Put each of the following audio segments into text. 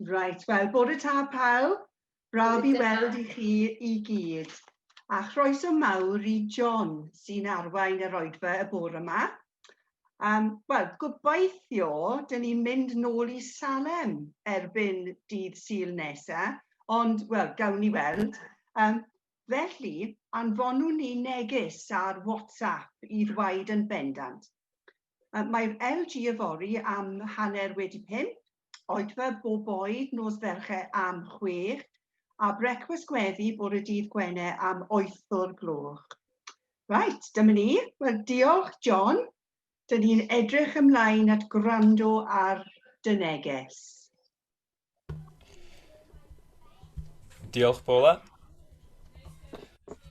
Reit, wel, bore ta pawb. Braf i weld i chi i gyd. A chroeso mawr i John sy'n arwain yr oedfa y bore yma. Um, Wel, gobeithio, dyn ni'n mynd nôl i Salem erbyn dydd syl nesa, ond, wel, gawn ni weld. Um, felly, anfonwn ni neges ar WhatsApp i ddweud yn bendant. Mae'r LG yfory am hanner wedi pump, oedfa bob oed nos Fercher am chwech, a brecwast gweddi bore dydd Gwener am wyth o'r gloch. Right, dyma ni. Wel, diolch, John. Dyn ni'n edrych ymlaen at gwrando ar dy neges. Diolch, Paula.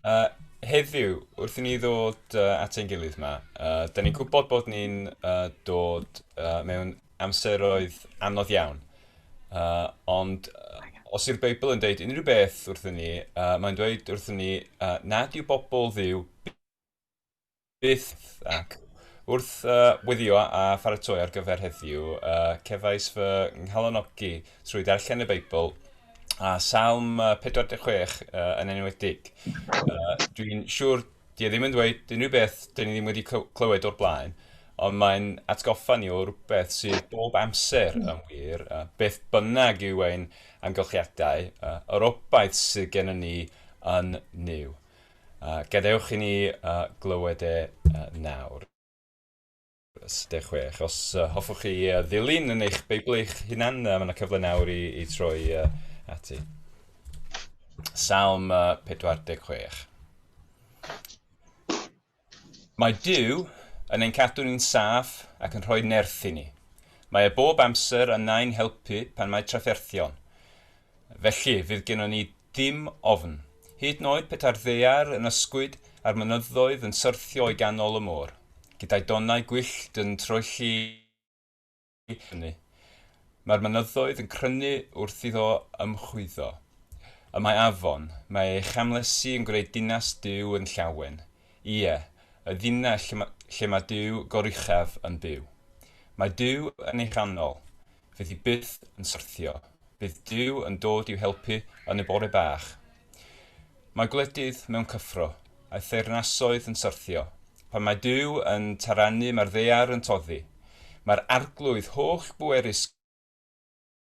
Uh, heddiw, wrth i ni ddod uh, at ein gilydd yma, uh, da ni'n gwybod bod ni'n uh, dod uh, mewn amseroedd anodd iawn. Uh, ond uh, os yw'r Beibl yn dweud unrhyw beth wrth ni, uh, mae'n dweud wrth ni uh, nad yw bobl ddiw Byth, ac, wrth weddïo a pharatoi ar gyfer heddiw, cefais fy nghalonogi trwy ddarllen y Beibl, a Salm 46 yn enwedig. Dwi'n siŵr di e ddim yn dweud unrhyw beth dyn ni ddim wedi clywed o'r blaen, ond mae'n atgoffa ni o rhywbeth sydd bob amser yn wir, beth bynnag yw ein amgylchiadau, yr obaith sydd gennym ni yn Nuw. A gadewch i ni glywed e nawr. Ys. 16. Os hoffwch chi ddilyn yn eich Beibl eich hunan, mae yna cyfle nawr i, i troi ati. Salm 46. Mae Dyw yn ein cadw ni'n saff ac yn rhoi nerth i ni. Mae e bob amser yna i'n helpu pan mae trafferthion. Felly, fydd gennon ni ddim ofn. Hyd yn oed petai'r ddaear yn ysgwyd a'r mynyddoedd yn syrthio i ganol y môr, gyda'i donnau gwyllt yn troelli i fyny, mae'r mynyddoedd yn crynu wrth iddo ymchwyddo. Y mae afon, mae ei chamlesi yn gwneud dinas Duw yn llawen, ie, y ddinas lle mae Duw goruchaf yn byw. Mae Duw yn ei chanol. fydd hi byth yn syrthio, bydd Duw yn dod i'w helpu yn y bore bach. Mae gwledydd mewn cyffro, a theyrnasoedd yn syrthio. Pan mae Duw yn tarannu, mae'r ddear yn toddi. Mae'r arglwydd holl bwerus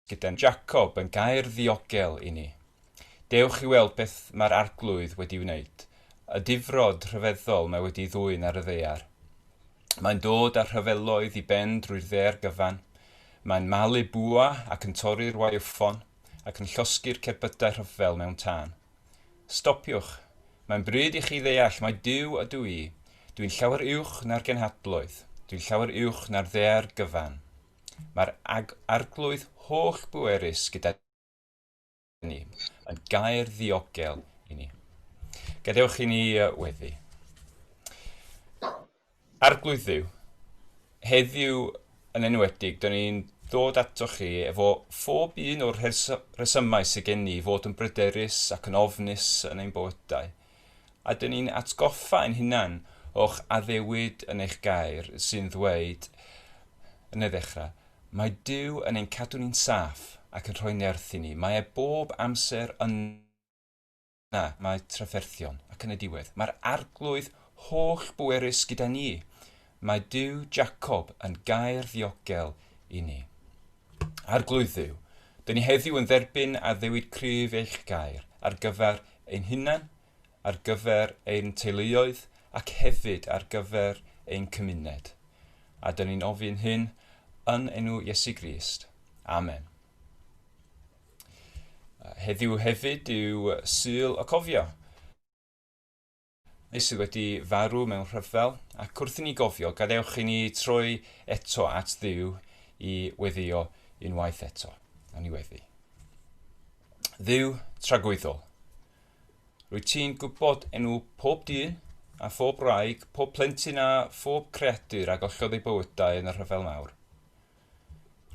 gyda'n Jacob yn gair ddiogel i ni. Dewch i weld beth mae'r arglwydd wedi wneud, y difrod rhyfeddol mae wedi ddwyn ar y ddear. Mae'n dod â rhyfeloedd i ben drwy'r ddaear gyfan. Mae'n malu bwa ac yn torri'r waywffon, ac yn llosgi'r cerbydau rhyfel mewn tân. Stopiwch! Mae'n bryd i chi ddeall mai Duw ydw i. Dw i'n llawer uwch na'r genhadloedd. Dw i'n llawer uwch na'r ddaear gyfan. Mae'r Arglwydd holl-bwerus gyda ni, yn gair ddiogel i ni. Gadewch i ni weddi. Arglwydd Dduw, heddiw yn enwedig, dyn ni'n dod ato chi efo phob un o'r rhesymau sydd gen ni fod yn bryderus ac yn ofnus yn ein bywydau. A dyn ni'n atgoffa ein hunain o'ch addewid yn eich gair sy'n ddweud yn y ddechrau, Mae Duw yn ein cadw ni'n saff ac yn rhoi nerth i ni. Mae e bob amser yna, mae trafferthion, ac yn y diwedd, mae'r Arglwydd holl-bwerus gyda ni. mae Duw Jacob yn gair ddiogel i ni. Arglwydd Dduw, dyn ni heddiw yn dderbyn addewid cryf eich gair ar gyfer ein hunain, ar gyfer ein teuluoedd ac hefyd ar gyfer ein cymuned. A dyn ni'n ofyn hyn yn enw Iesu Grist. Amen. Heddiw hefyd yw Sul y Cofio. ni sydd wedi farw mewn rhyfel, ac wrth i ni gofio, gadewch i ni troi eto at Dduw i weddio unwaith eto. A ni weddi. Dduw tragwyddol, rwy ti'n gwybod enw pob dyn a phob wraig, pob plentyn a phob creadur a gollodd ei bywydau yn y rhyfel mawr.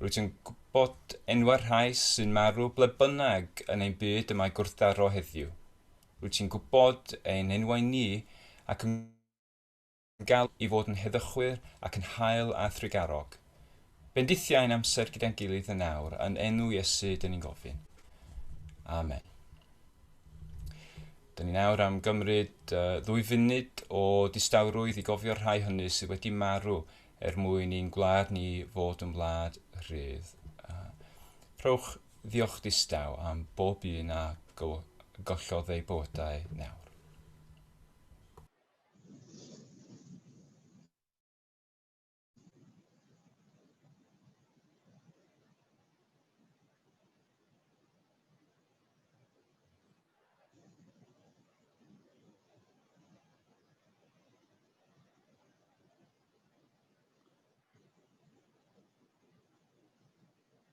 Rwy ti'n gwybod enwau'r rhai sy'n marw ble bynnag yn ein byd y mae gwrthdaro heddiw. Wyt ti'n gwybod ein enwau ni ac yn galw i fod yn heddychwyr ac yn hael a thrugarog. Bendithia ein amser gyda'n gilydd yn awr, yn enw Iesu dyn ni'n gofyn. Amen. Dyn ni'n awr am gymryd uh, ddwy funud o distawrwydd i gofio'r rhai hynny sydd wedi marw er mwyn i'n gwlad ni fod yn wlad rhydd. Uh, rhowch Ddiolch distaw am bob un a gollodd eu bywydau nawr.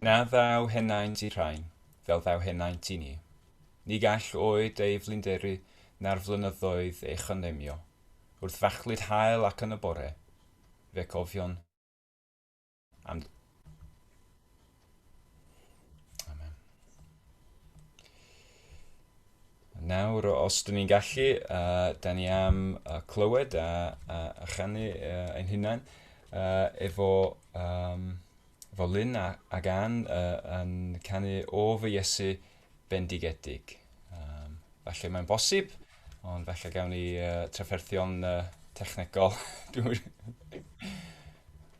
Na ddaw henaint i Rhain, fel ddaw henaint i ni. Ni gall oed ei flinderu na'r flynyddoedd ei chynllunio. Wrth fachlud hael ac yn y bore, fe cofion. And Amen. Nawr, os dyn ni'n gallu, uh, da ni am uh, clywed a, a, a chanu uh, ein hunain uh, efo, um, efo Lynn a, ac Ann uh, yn canu o fy Iesu bendigedig. Um, falle mae'n bosib, ond falle gawn ni uh, trafferthion uh, technegol.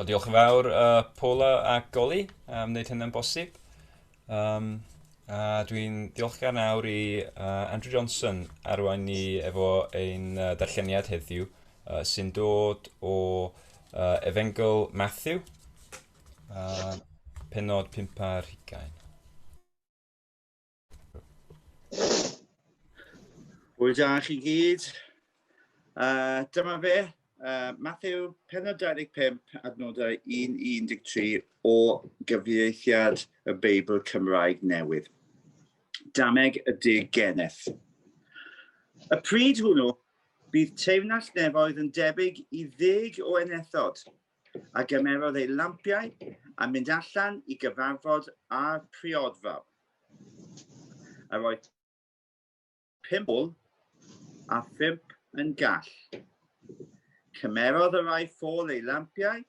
O, diolch yn fawr uh, Paula a Goli am wneud hynny'n bosib. Um, a dwi'n diolchgar nawr i uh, Andrew Johnson arwain ni efo ein uh, darlleniad heddiw uh, sy'n dod o uh, Efengl Matthew, uh, penod 5 ar hugain. Hwyl da chi gyd. Uh, dyma fe, uh, Matthew, penod 25, adnodau 1-13 o gyfieithiad y Beibl Cymraeg newydd. Dameg y dig geneth. Y pryd hwnnw, bydd teyrnas nefoedd yn debyg i ddeg o enethod, a gymerodd ei lampiau a mynd allan i gyfarfod â'r priodfa. A roedd pum ôl a phump yn gall. Cymerodd y rai ffôl ei lampiau,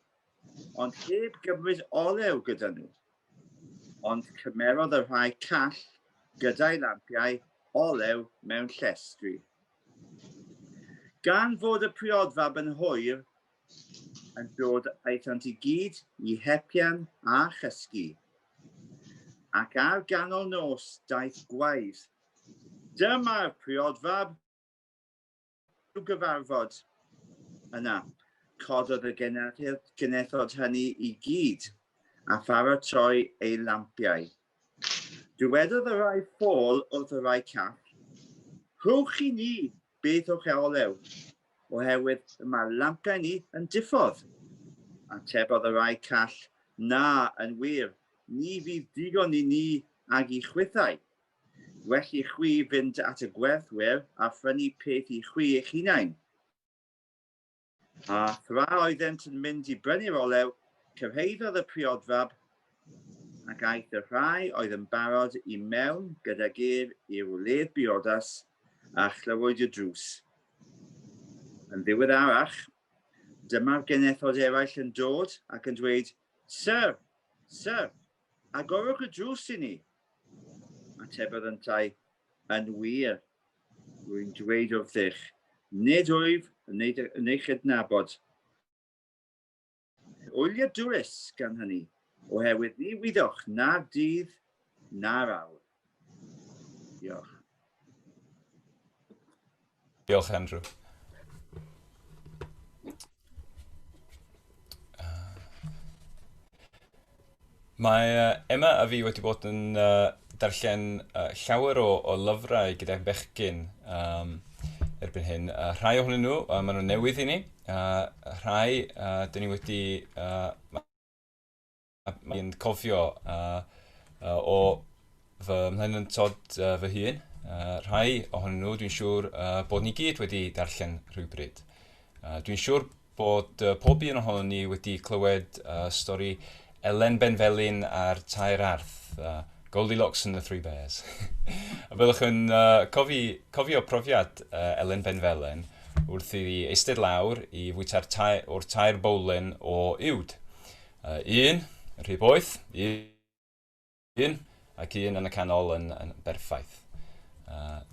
ond heb gymryd olew gyda nhw. Ond cymerodd y rhai call gyda'i lampiau olew mewn llestri. Gan fod y priodfab yn hwyr, yn dod aethant i gyd i hepian a chysgu. Ac ar ganol nos daeth gwaedd. Dyma'r priodfab i'w gyfarfod. Yna, cododd y genethod hynny i gyd, a pharatoi ei lampiau. Dywedodd y rhai ffôl wrth y rhai call, Rhowch i ni Beth yw'ch olew? Oherwydd y mae lampau ni yn diffodd. Atebodd y rai call, Na, yn wir, ni fydd digon i ni ag i chwithau. Well i chwi fynd at y gwerthwyr a phrynu peth i chwi eich hunain. A thra oeddent yn mynd i brynu'r olew, cyrhaeddodd y priodfab ac aeth y rhai oedd yn barod i mewn gydag ef i'r wledd briodas a chlywyd y drws. Yn ddiweddarach, dyma'r genethod eraill yn dod ac yn dweud, Syr! Syr! Agorwch y drws i ni! Atebodd yntau, Yn wir, Rwy'n dweud wrthych, nid wyf yn yn ei chydnabod. Wyliadwrus, gan hynny, oherwydd ni wyddoch na'r dydd na'r awr. Diolch. Diolch, Andrew. Mae uh, Emma a fi wedi bod yn uh, darllen uh, llawer o, o lyfrau gyda bechgyn um, erbyn hyn. Uh, rhai ohonyn nhw, uh, maen nhw'n newydd i ni. Uh, rhai, uh, dyn ni wedi... Uh, a fi'n cofio a, a, o fy mhlentyntod uh, fy hun, uh, rhai ohonyn nhw dwi'n siŵr uh, bod ni gyd wedi darllen rhywbryd. Uh, dwi'n siŵr bod uh, pob un ohono ni wedi clywed uh, stori Elen Benfelin a'r Tair Arth, uh, Goldilocks and the Three Bears. a byddwch yn uh, cofi, cofio profiad uh, Elen Benfelin wrth iddi eistedd lawr i fwyta'r tair, o'r tair bowlen o uwd. A un, rhy boeth, un, ac un yn y canol yn berffaith.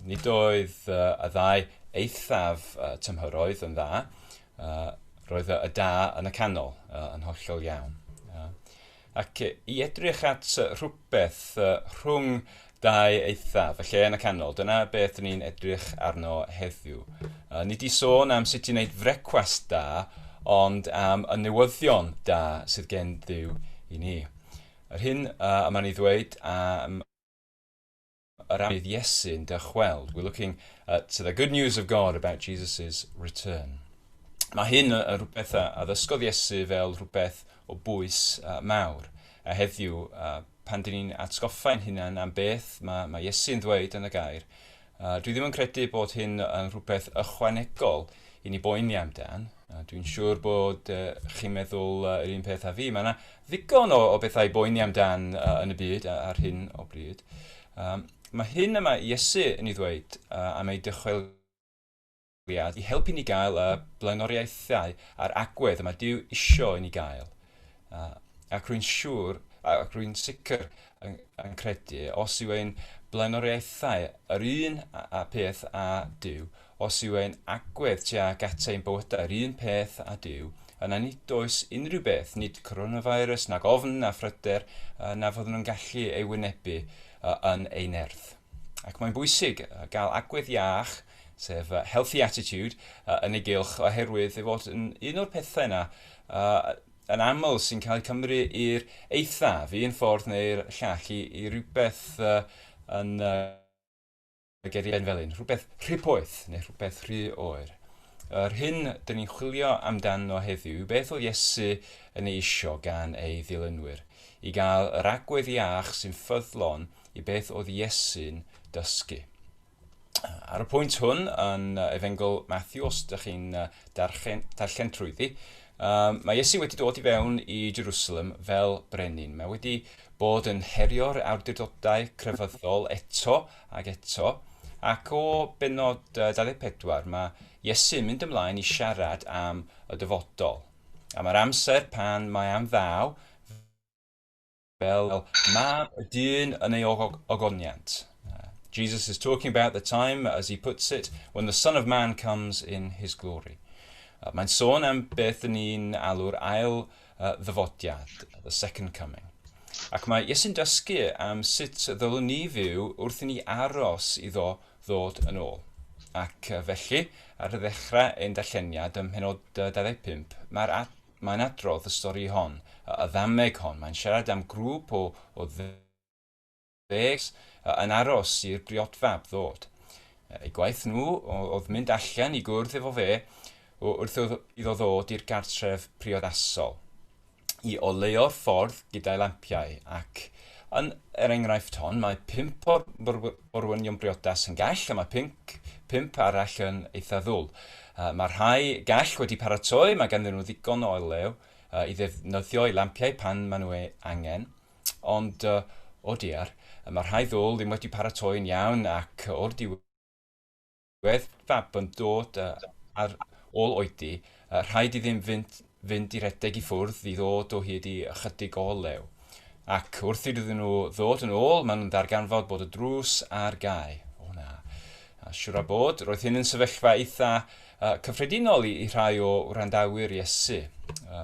Nid oedd y ddau eithaf tymhoroedd yn dda, roedd y da yn y canol yn hollol iawn. Ac i edrych at rhywbeth rhwng Dau eithaf, y lle yn y canol, dyna beth dyn ni'n edrych arno heddiw. Uh, ni di sôn am sut i wneud frecwast da, ond am y newyddion da sydd gen ddiw i ni. Yr hyn uh, y mae'n ei ddweud am yr amydd Iesu'n dychweld. We're looking at the good news of God about Jesus' return. Mae hyn yn rhywbeth a ddysgodd Iesu fel rhywbeth o bwys uh, mawr. A heddiw, uh, Pan dŷn ni'n atgoffa ein hunain am beth mae, mae Iesu'n ddweud yn y gair, a dwi ddim yn credu bod hyn yn rhywbeth ychwanegol i ni boeni amdan, a dwi'n siŵr bod uh, chi'n meddwl uh, yr un peth â fi, mae yna ddigon o, o bethau i boeni amdan uh, yn y byd ar hyn o bryd. Um, mae hyn yma Iesu yn ei ddweud uh, am ei dychwel Cynulliad i helpu ni gael y blaenoriaethau a'r agwedd y mae Duw isio i ni gael. Ac rwy'n siŵr, ac rwy'n sicr yn credu, os yw ein blaenoriaethau yr un peth â Duw, os yw ein agwedd tuag at ein bywydau yr un peth â Duw, yna nid oes unrhyw beth, nid coronavirus, nag ofn, na phryder, na fyddwn nhw'n gallu ei wynebu yn ei nerth. Ac mae'n bwysig gael agwedd iach sef healthy attitude yn ei gylch oherwydd ei fod yn un o'r pethau yna yn aml sy'n cael ei cymru i'r eithaf, un ffordd neu'r llall, i, i rhywbeth yn y geri ben felyn, rhywbeth rhy poeth neu rhywbeth rhy oer. Yr hyn dyn ni'n chwilio amdano heddiw yw beth oedd Iesu yn ei isio gan ei ddilynwyr, i gael yr agwedd iach sy'n ffyddlon i beth oedd Iesu'n dysgu. Ar y pwynt hwn yn Efengl Matthew, os ydych chi'n darllen, darllen trwyddi, mae Iesu wedi dod i fewn i Jerusalem fel brenin. Mae wedi bod yn herio'r awdurdodau crefyddol eto ac eto, ac o benod 24 mae Iesu'n mynd ymlaen i siarad am y dyfodol, am yr amser pan mae am ddaw Fel mab y dyn yn ei ogoniant. Jesus is talking about the time, as he puts it, when the Son of Man comes in his glory. Mae'n sôn am beth yn ni'n alw'r ail ddyfodiad, the second coming. Ac mae Iesu'n dysgu am sut ddylwn ni fyw wrth i ni aros iddo ddod yn ôl. Ac felly, ar ddechrau ein darlleniad ym mhenod 25, mae'r Mae'n adrodd y stori hon, y ddameg hon, mae'n siarad am grŵp o o ddeg ffres yn aros i'r briodfab ddod. Eu gwaith nhw oedd mynd allan i gwrdd efo fe wrth iddo ddod i'r gartref priodasol, i oleuo'r ffordd gyda'i lampiau ac, yn yr enghraifft hon, mae pump o'r orwynion briodas yn gell a mae pync, pump arall yn eitha ddwl. Mae'r rhai gell wedi paratoi, mae ganddyn nhw ddigon o olew i ddefnyddio i lampiau pan maen nhw ei angen, ond o diar, mae'r rhai ddwl ddim wedi paratoi'n iawn ac o'r diwedd, Roedd Fab yn dod ar ôl oedi, rhaid iddynt fynd i redeg i ffwrdd i ddod o hyd i ychydig o olew. Ac wrth iddyn nhw ddod yn ôl, maen nhw'n darganfod bod y drws ar gau. O na. A siwr o bod, roedd hyn yn sefyllfa eitha cyffredinol i rhai o wrandawyr Iesu.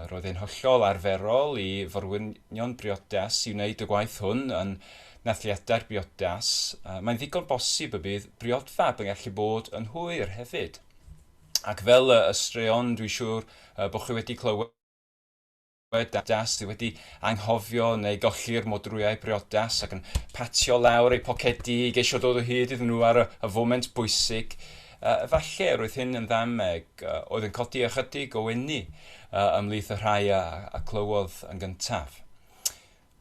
Roedd e'n hollol arferol i forwynion briodas i wneud y gwaith hwn yn Nathliadau'r briodas, mae'n ddigon bosib y bydd briodfab yn gallu bod yn hwyr hefyd. Ac fel y straeon dwi'n siŵr bod chi wedi clywed das sydd wedi anghofio neu golli'r modrwyau briodas ac yn patio lawr eu pocedi i geisio dod o hyd iddyn nhw ar y, y foment bwysig. Uh, efallai roedd hyn yn ddameg uh, oedd yn codi ychydig o enni uh, ymlith y rhai a, a clywodd yn gyntaf.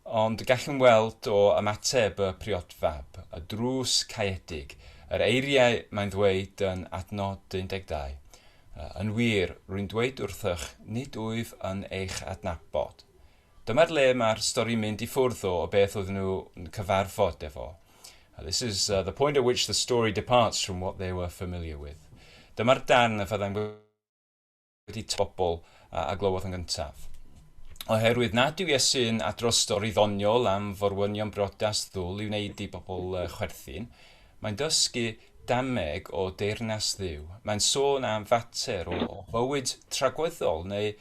Ond gallwn weld o ymateb y priod fab, y drws caeedig, yr eiriau mae'n ddweud yn adnod 12, Yn wir, rwy'n dweud wrthych, nid wyf yn eich adnabod. Dyma'r le mae'r stori'n mynd i ffwrdd o o beth oedden nhw'n cyfarfod efo. This is the point at which the story departs from what they were familiar with. Dyma'r darn y fyddai'n wedi taro pobl a glywodd yn gyntaf. Oherwydd nad yw Iesu'n adrodd stori ddoniol am forwynion briodas ddwl i wneud i bobl chwerthin, mae'n dysgu dameg o deyrnas Dduw. Mae'n sôn am fater o fywyd tragweddol neu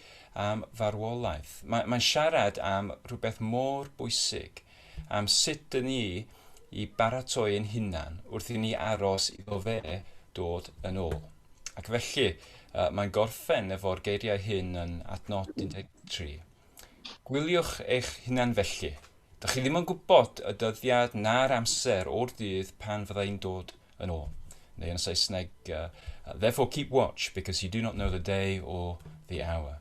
am farwolaeth. Mae'n siarad am rhywbeth mor bwysig am sut dŷn ni i baratoi ein hunan wrth i ni aros iddo fe dod yn ôl. Ac felly, uh, mae'n gorffen efo'r geiriau hyn yn adnod 13. Gwyliwch eich hunan felly. Dych chi ddim yn gwybod y dyddiad na'r amser o'r dydd pan fyddai'n dod yn ôl. Neu yn Saesneg, uh, therefore keep watch because you do not know the day or the hour.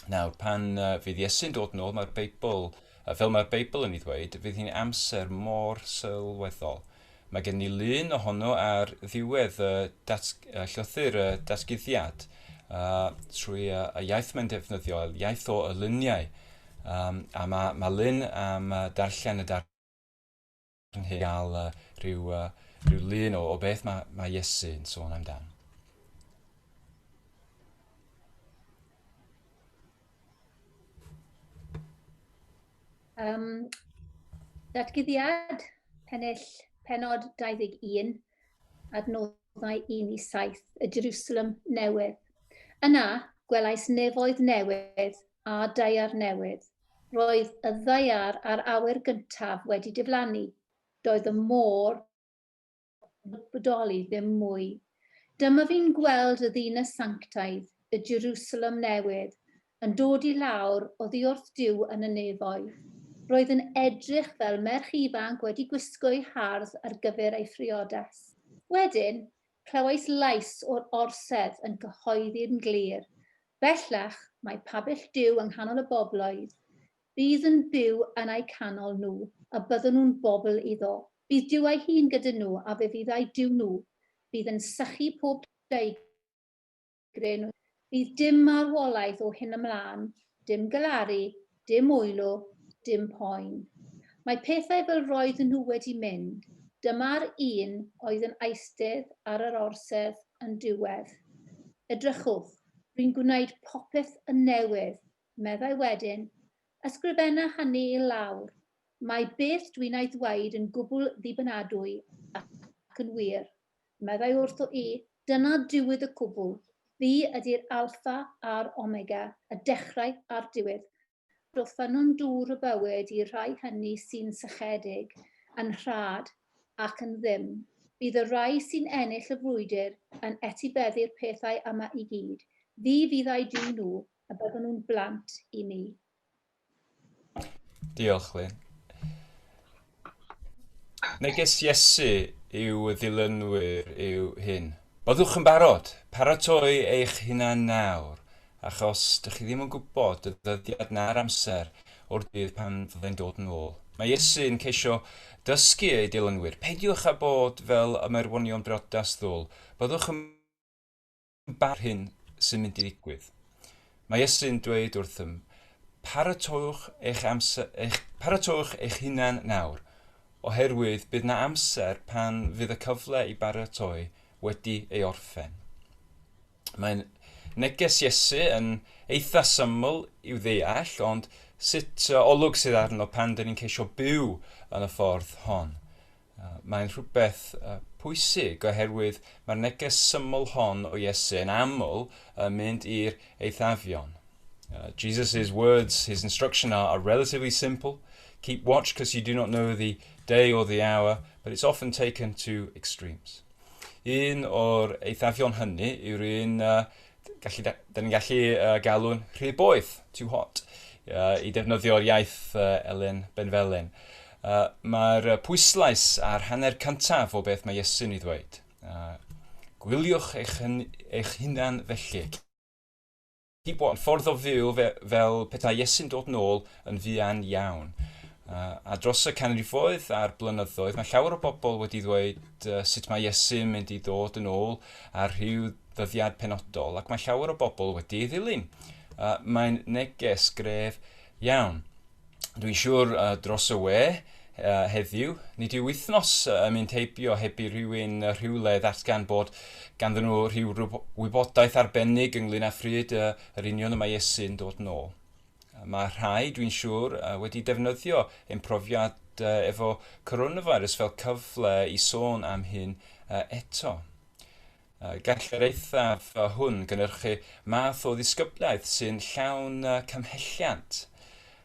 Nawr, pan uh, fydd Iesu'n dod yn ôl, mae'r Beibl, uh, fel mae'r Beibl yn ei ddweud, fydd hi'n amser mor sylweddol. Mae gen ni lun ohono ar ddiwedd y dat, uh, llythyr y datguddiad uh, trwy uh, y iaith mae'n defnyddio, iaith o y luniau. Um, a mae, mae lun am uh, darllen y darllen ni gael uh, rhyw, uh, rhyw lun o, o beth mae, mae Iesu yn sôn amdan. Um, datgyddiad pennill penod 21 adnoddau 1 i 7 y Jerusalem newydd. Yna gwelais nefoedd newydd a daear newydd, Roedd y ddaear a'r awyr gyntaf wedi diflannu. Doedd y môr heb bodoli ddim mwy. Dyma fi'n gweld y ddinas sanctaidd, y Jerusalem Newydd, yn dod i lawr oddi wrth Duw yn y nefoedd. Roedd yn edrych fel merch ifanc wedi gwisgo'i hardd ar gyfer ei phriodas. Wedyn, Clywais lais o'r orsedd yn cyhoeddi'n glir, Bellach mae pabell Duw yng nghanol y bobloedd, bydd yn byw yn eu canol nhw, a byddwn nhw'n bobl iddo. Bydd Duw ei hun gyda nhw, a fe fydd eu Duw nhw. Bydd yn sychu pob deugain. Gryn, Bydd dim marwolaeth o hyn ymlaen, dim galaru, dim wylo, dim poen. Mae pethau fel roedden nhw wedi mynd, dyma'r un oedd yn eistedd ar yr orsedd yn diwedd. Edrychwch, rwy'n gwneud popeth yn newydd, meddai wedyn. Ysgrifenna hynny i lawr. Mae beth dwi'n ei ddweud yn gwbl ddibynadwy ac yn wir. Meddai wrtho i, Dyna diwyd y cwbl. Fi ydi'r Alpha a'r Omega, y dechrau a'r diwedd. Dw ffynnon dŵr y bywyd i'r rhai hynny sy'n sychedig, yn rhad, ac yn ddim. Bydd y rhai sy'n ennill y frwydr yn etibeddu'r pethau yma i gyd. Fi fyddai Duw nhw, a byddan nhw'n blant i mi. Diolch, Lyn. Neges Iesu i'w ddilynwyr yw hyn. Byddwch yn barod, paratoi eich hunan nawr, achos dych chi ddim yn gwybod y ddyddiad na'r amser o'r dydd pan fyddai'n dod yn ôl. Mae Iesu yn ceisio dysgu ei dilynwyr, peidiwch â bod fel ymerwonion briodas ddwl, byddwch yn Barn hyn sy'n mynd i ddigwydd. Mae Iesu'n dweud wrthym, Paratowch eich, amser, eich, paratowch eich hunain nawr, oherwydd bydd na amser pan fydd y cyfle i baratoi wedi ei orffen. Mae neges Iesu yn eitha syml i'w ddeall, ond sut olwg sydd arno pan dyn ni'n ceisio byw yn y ffordd hon? Mae'n rhywbeth pwysig oherwydd mae'r neges syml hon o Iesu yn aml yn mynd i'r eithafion. Jesus' words, his instruction are, are relatively simple. Keep watch because you do not know the day or the hour, but it's often taken to extremes. Un o'r eithafion hynny yw'r un uh, gallu, da, da ni'n gallu uh, galw'n rhy boeth, too hot, uh, i defnyddio'r iaith uh, Elen Benfelen. Uh, Mae'r pwyslais a'r hanner cyntaf o beth mae Iesu'n ei ddweud. Uh, gwyliwch eich, hyn, eich hunan felly. Di bod yn ffordd o fyw fe, fel pethau Iesu'n dod nôl yn fuan iawn. Uh, a dros y canrifoedd a'r blynyddoedd, mae llawer o bobl wedi ddweud uh, sut mae Iesu'n mynd i ddod yn ôl ar rhyw ddyddiad penodol, ac mae llawer o bobl wedi ei ddilyn. Uh, mae'n neges gref iawn. Dwi'n siŵr uh, dros y we, uh, heddiw. Nid yw wythnos uh, yn mynd heibio heb i rhywun uh, rhywle ddatgan bod ganddyn nhw rhyw wybodaeth arbennig ynglyn â phryd uh, yr union y mae Iesu'n dod nôl. Mae rhai, dwi'n siŵr, wedi defnyddio ein profiad efo coronavirus fel cyfle i sôn am hyn eto. Gall yr eithaf hwn gynnyrchu math o ddisgyblaeth sy'n llawn cymhelliant.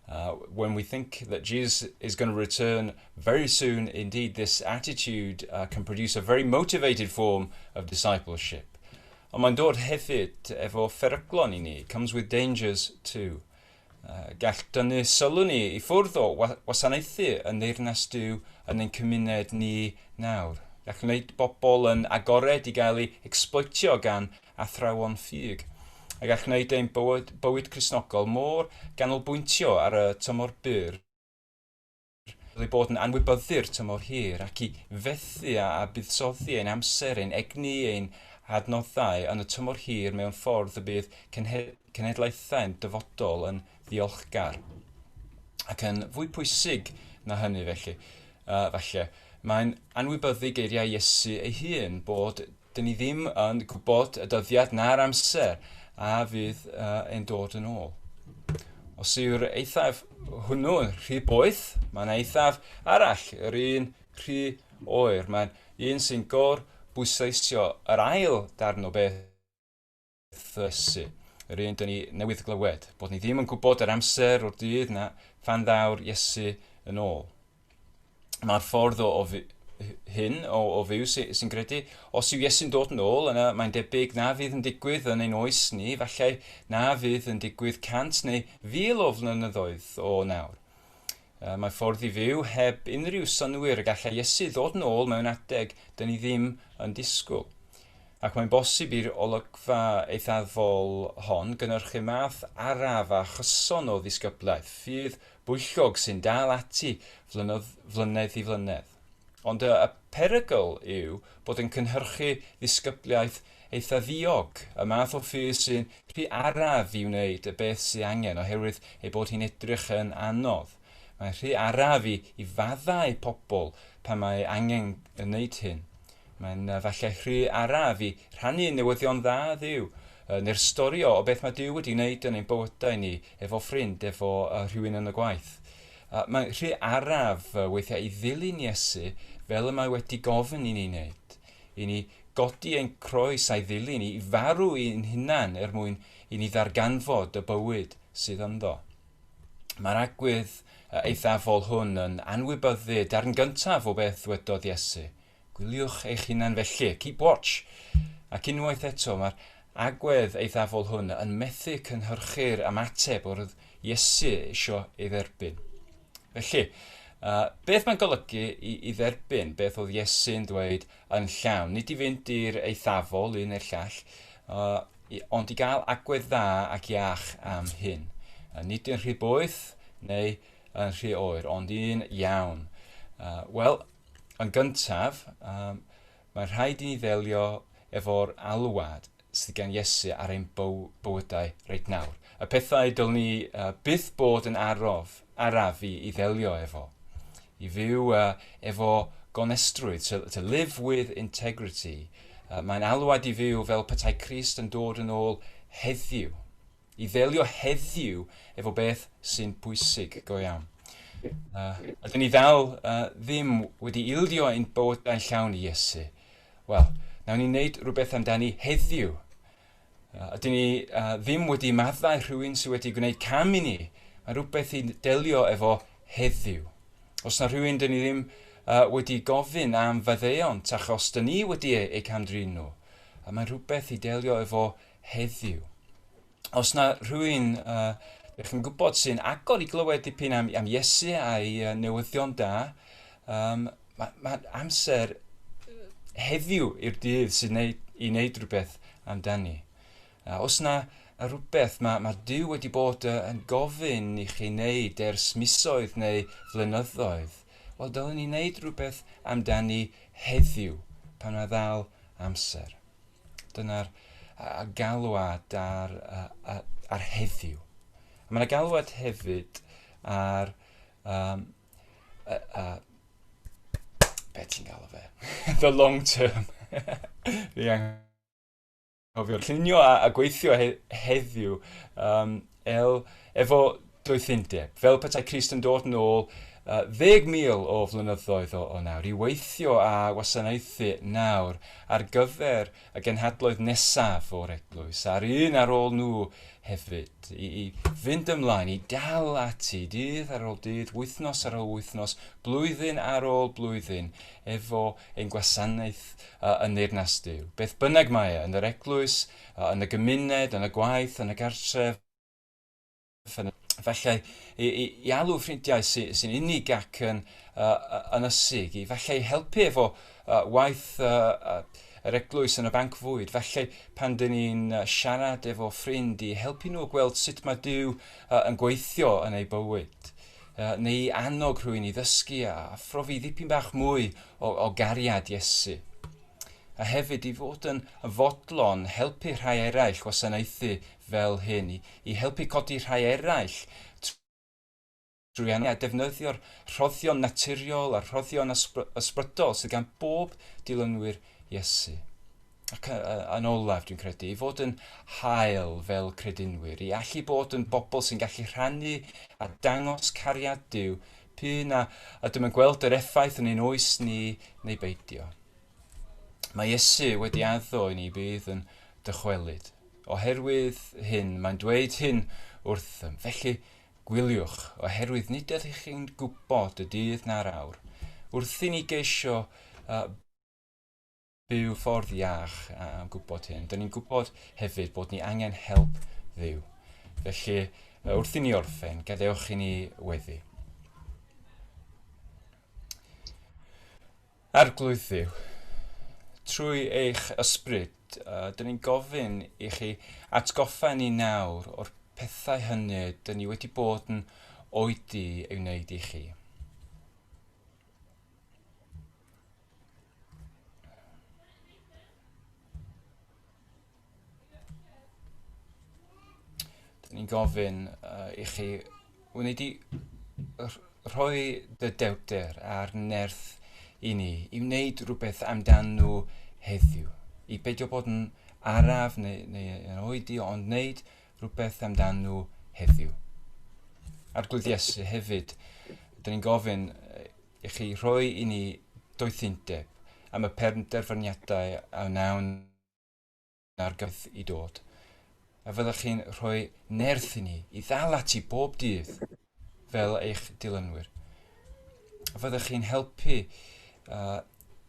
Uh, when we think that Jesus is going to return very soon, indeed, this attitude uh, can produce a very motivated form of discipleship. Ond mae'n dod hefyd efo pheryglon i ni, comes with dangers too. Gall dynnu sylw ni i ffwrdd o wasanaethu yn Neyrnas Duw yn ein cymuned ni nawr. Gall wneud bobl yn agored i gael ei ecsbloetio gan athrawon ffug. A gall wneud ein bywyd Cristnogol mor ganolbwyntio ar y tymor byr. fel ei bod yn anwybyddu'r tymor hir ac i fethu â buddsoddi ein amser, ein egni, ein hadnoddau yn y tymor hir mewn ffordd y bydd cenhedlaethau'n dyfodol yn ddiolchgar. Ac yn fwy pwysig na hynny felly, uh, falle, mae'n anwybyddu geiriau Iesu ei hun bod Dyn ni ddim yn gwybod y dyddiad na'r amser a fydd e'n dod yn ôl. Os yw'r eithaf hwnnw'n rhy boeth, mae'n eithaf arall yr un rhy oer. Mae'n un sy'n gor bwysleisio yr ail darn o beth addysgu, yr un dŷn ni newydd glywed, bod ni ddim yn gwybod yr amser o'r dydd na phan ddaw'r Iesu yn ôl. Mae'r ffordd o, o hyn o, o fyw sy'n credu, os yw Iesu'n dod yn ôl, yna mae'n debyg na fydd yn digwydd yn ein oes ni, falle na fydd yn digwydd cant neu fil o flynyddoedd o nawr. Mae ffordd i fyw heb unrhyw synnwyr y gallai Iesu ddod yn ôl mewn adeg dyn ni ddim yn disgwyl. Ac mae'n bosib i'r olygfa eithafol hon gynnyrchu math araf a chyson o ddisgyblaeth, ffydd bwyllog sy'n dal ati flynedd, flynedd i flynedd. Ond y perygl yw bod yn cynhyrchu ddisgyblaeth eitha ddiog, y math o ffydd sy'n rhy araf i wneud y beth sy angen oherwydd ei bod hi'n edrych yn anodd. Mae'n rhy araf i, i faddau pobl pan mae angen wneud hyn. Mae'n uh, falle rhy araf i rhannu newyddion dda ddiw, uh, neu'r stori o, o beth mae Dyw wedi wneud yn ein bywydau ni, efo ffrind, efo uh, rhywun yn y gwaith. Uh, mae'n rhy araf uh, weithiau i ddilyn Iesu fel y mae wedi gofyn i ni wneud. i ni godi ein croes a'i ddilyn, i farw i'n hunan er mwyn i ni ddarganfod y bywyd sydd ynddo. Mae'r agwedd eithafol hwn yn anwybyddu darn gyntaf o beth ddwedodd Iesu. Gwyliwch eich hunan felly, keep watch. Ac unwaith eto, mae'r agwedd eithafol hwn yn methu cynhyrchu'r ymateb yr oedd Iesu eisiau ei dderbyn. Felly, uh, beth mae'n golygu i, i dderbyn beth oedd Iesu'n dweud yn llawn? Nid i fynd i'r eithafol un neu'r llall, uh, ond i gael agwedd dda ac iach am hyn. Uh, nid yn rhy boeth neu yn rhy oer, ond un iawn. Uh, Wel, yn gyntaf, um, Mae rhaid i ni ddelio efo'r alwad sydd gan Iesu ar ein bywydau reit nawr, y pethau dylwn ni byth bod yn araf, araf i ddelio efo. I fyw efo gonestrwydd, to, to live with integrity. Mae'n alwad i fyw fel petai Crist yn dod yn ôl heddiw. i ddelio heddiw efo beth sy'n bwysig go iawn. Uh, ydyn ni ddal uh, ddim wedi ildio ein bywydau'n llawn i Iesu. Wel, nawn ni wneud rhywbeth amdani heddiw. Uh, ydyn ni uh, ddim wedi maddau rhywun sydd wedi gwneud cam i ni. Mae rhywbeth i delio efo heddiw. Os na rhywun dyn ni ddim uh, wedi gofyn am faddeuon, tach os dyn ni wedi eu, eu camdrin nhw, a mae rhywbeth i delio efo heddiw heddiw. Os na rhywun uh, ydych chi'n gwybod sy'n agor i glywed dipyn am, am Iesu a'i uh, newyddion da, um, mae ma amser heddiw i'r dydd sy'n neud, i wneud rhywbeth amdani. Uh, os na rhywbeth mae, mae Dyw wedi bod uh, yn gofyn i chi wneud ers misoedd neu flynyddoedd, wel, dylwn ni wneud rhywbeth amdani heddiw pan mae ddal amser. Dyna'r uh, galwad ar, uh, uh, ar heddiw. Mae yna galwad hefyd ar um, uh, uh, be ti'n galw fe? The long term. Fi anghofio'r llunio a, a gweithio he, heddiw. Um, Ell, efo doethindeb, fel petai Crist yn dod nôl ddeg mil o flynyddoedd o nawr, i weithio a wasanaethu nawr ar gyfer y genhadloedd nesaf o'r Eglwys, a'r un ar ôl nhw hefyd, i i fynd ymlaen, i dal ati, dydd ar ôl dydd, wythnos ar ôl wythnos, blwyddyn ar ôl blwyddyn, efo ein gwasanaeth yn Neyrnas Duw, beth bynnag mae e, yn yr Eglwys, yn y gymuned, yn y gwaith, yn y gartref, yn y... Efallai i, i, i alw ffrindiau sy, sy'n unig ac yn uh, ynysig, i fallai helpu efo uh, waith uh, uh, yr eglwys yn y banc fwyd, fallai pan dyn ni'n uh, siarad efo ffrind i helpu nhw gweld sut mae Dyw uh, yn gweithio yn eu bywyd, uh, neu i annog rhywun i ddysgu a phrofi ddipyn bach mwy o, o gariad Iesu. a hefyd i fod yn fodlon helpu rhai eraill wasanaethu fel hyn, i, i helpu codi rhai eraill trwy anwenddu a defnyddio'r rhoddion naturiol a'r rhoddion ysbrydol sydd gan bob dilynwyr Iesu. Ac yn olaf, dwi'n credu, i fod yn hael fel credinwyr, i allu bod yn bobl sy'n gallu rhannu a dangos cariad Dyw P'un a ydym yn gweld yr effaith yn ein oes ni neu beidio. Mae Iesu wedi addo i ni bydd yn dychwelyd. Oherwydd hyn, mae'n dweud hyn wrthym. Felly, gwyliwch, oherwydd nid ydych chi'n gwybod y dydd na'r awr. Wrth i ni geisio uh, Byw ffordd iach a a gwybod hyn. Dyn ni'n gwybod hefyd bod ni angen help ddiw. Felly, wrth i ni orffen, gadewch i ni weddi. Arglwydd Dduw, trwy eich ysbryd, uh, dyn ni'n gofyn i chi atgoffa ni nawr o'r pethau hynny dyn ni wedi bod yn oedi ei wneud i chi. Dyn ni'n gofyn uh, i chi wneud i rhoi dy dewter a'r nerth i ni i wneud rhywbeth amdan nhw heddiw. I beidio bod yn araf neu, neu yn oedi ond wneud rhywbeth amdan nhw heddiw. Arglwydd Iesu hefyd, dyn ni'n gofyn i chi rhoi i ni doethindeb am y penderfyniadau a wnawn ar gyfyd i dod. A fyddwch chi'n rhoi nerth i ni i ddal ati bob dydd fel eich dilynwyr. Fyddech chi'n helpu uh,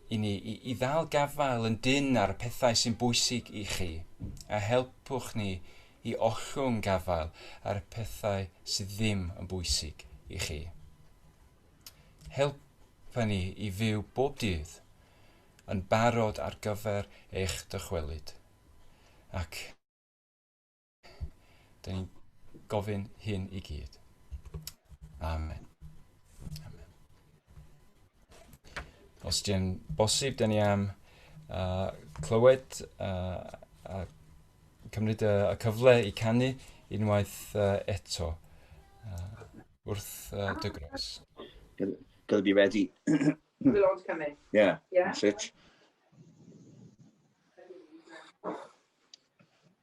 i ni i, i ddal gafael yn dyn ar y pethau sy'n bwysig i chi, a helpwch ni i ollwng gafael ar y pethau sydd ddim yn bwysig i chi. Helpa ni i fyw bob dydd yn barod ar gyfer eich dychwelyd. Ac Dyn ni'n gofyn hyn i gyd. Amen. Amen. Os di'n bosib, dyn ni am uh, clywed uh, a cymryd y, y cyfle i canu unwaith uh, eto uh, wrth uh, dy gros. Gotta be ready. The Lord's coming. Yeah, yeah. that's it.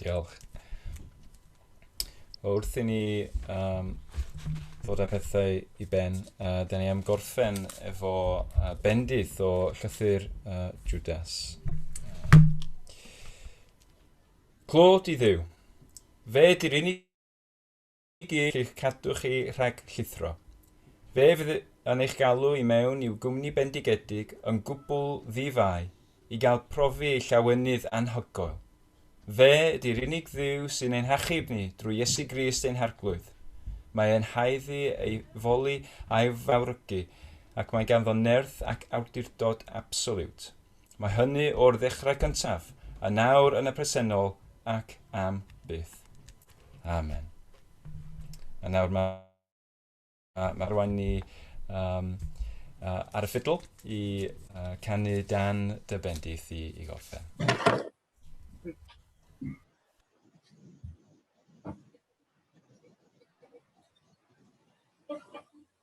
Diolch. Wrth i ni um, ddod â pethau i ben, uh, da ni am gorffen efo uh, bendith o llythyr uh, Judas. Clod i ddiw. Fe di'r unig gig i'ch cadw chi rhag llithro. Fe fydd yn eich galw i mewn i'w gwmni bendigedig yn gwbl ddi-fai i gael profi ei llawenydd anhygoel. Fe ydy'r unig Dduw sy'n ein hachub ni drwy Iesu Grist ein Harglwydd. Mae e'n haeddu ei foli a'i fawrygu ac mae ganddo nerth ac awdurdod absoliwt. Mae hynny o'r ddechrau cyntaf, yn nawr, yn y presennol, ac am byth. Amen. A nawr mae, mae rwan ni um, uh, ar y ffidl i uh, canu dan dy bendith i, i gorffen.